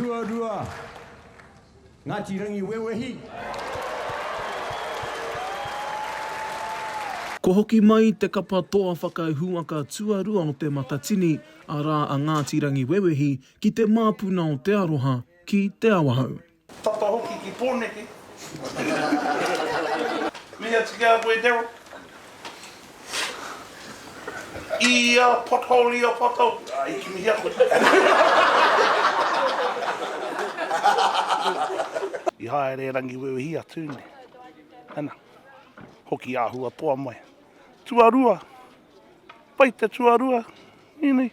Tuarua, Ngāti Rangiwewehi. Kua hoki mai te kapa toa whakahuaka tuarua o Te Matatini, arā a Ngāti Rangiwewehi, ki te māpuna o Te Aroha, ki Te Awahou. Tata hoki ki Poneke. Mihi atu ki a koe Darryl. I a pothole i a pothole. Ah, i kimihia koe. I haere e Rangiwewehi a Tune. Ana. Hoki ahua toa mai. Tuarua. Pai te tuarua. Inui.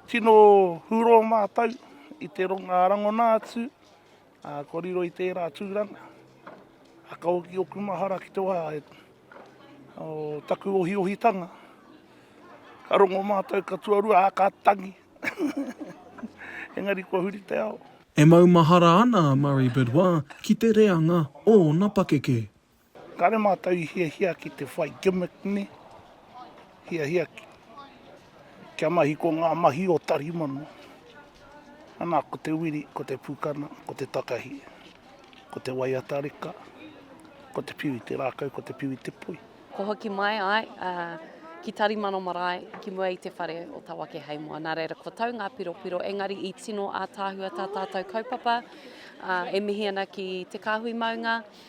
Tino huro mātou i te ronga rangona atu. Kua riro i tērā tūranga, ako ki ōku mahara ki te wā o taku ohiohitanga. Ka rongo mātou, ka tuarua, ā, ka tangi. Engari kua huri te ao. E maumahara ana a Murray Bidois ki te reanga o ōna pakeke. Kāre mātou i hiahia ki te whai gimmick nei, hiahia kia mahi ko ngā mahi o Tarimano. Anā, ko te wiri, ko te pukana, ko te takahi, ko te waiata reka, ko te piu i te rākau, ko te piu i te poi. Kua hoki mai ai ki Tarimano marae ki mua i te whare o Tawakeheimoa. Nā reira, kua tau ngā piropiro, engari i tino ātaahua tā tātou kaupapa e mihi ana ki te kāhui maunga,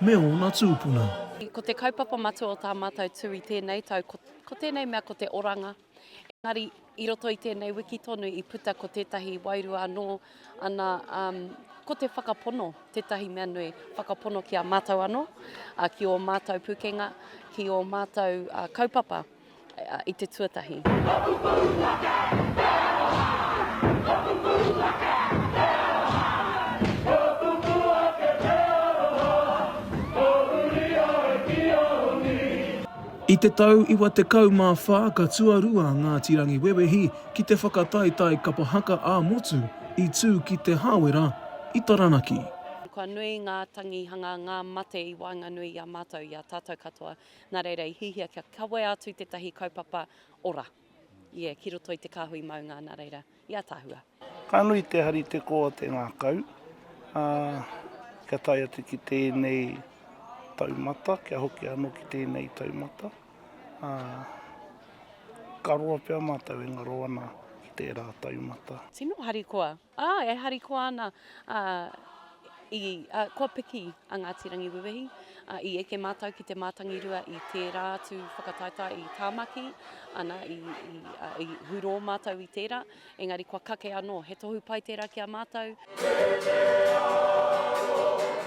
Me ōna tūpuna. Ko te kaupapa matua o tā mātou tū i tēnei tau ko, ko tēnei mea ko te oranga. Engari, i roto i tēnei wiki tonu i puta ko tētahi wairua anō, ana, um, ko te whakapono, tētahi mea nui, whakapono ki a mātou anō, uh, ki ō mātou pukenga, ki ō mātou uh, kaupapa. i te tuatahi. I te tau 94 ka tuarua Ngāti Rangiwewehi ki te whakataetae kapa haka ā-motu i tū ki Te Hāwera i Taranaki. Kua nui ngā tangihanga, ngā mate i waenganui i a mātou, i a tātou katoa. Nā reira i hihia kia kawea atu tētahi kaupapa ora ia ki roto i te kāhui maunga nā reira i ataahua. Ka nui te hari te kō a te ngākau, ā, kia tae atu ki tēnei taumata, kia hoki anō ki tēnei taumata, ā, ka roa pea mātou e ngaro ana ki tērā taumata. Tino harikoa Ā, e harikoa ana, ā, i, ā, kua piki a Ngāti Rangiwewehi, ā, i eke mātou ki te mātangirua i tērā atu whakataetae i Tāmaki, ana, i, i, ā, i hurō mātou i tērā, engari kua kake anō, he tohu pai tērā ki a mātou. Te Te Arawa.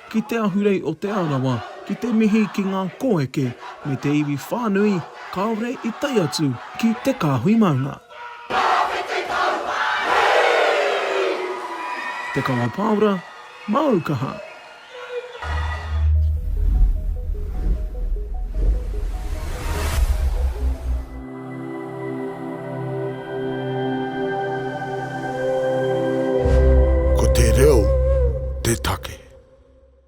ki Te Ahurei o Te Arawa ki te mihi ki ngā kōeke me te iwi whānui kāore i tae atu ki Te Kāhui Maunga. Tawhiti Pou Wāhi! Te Kawa Pāora, Māu Kaha! Ko te reo te take.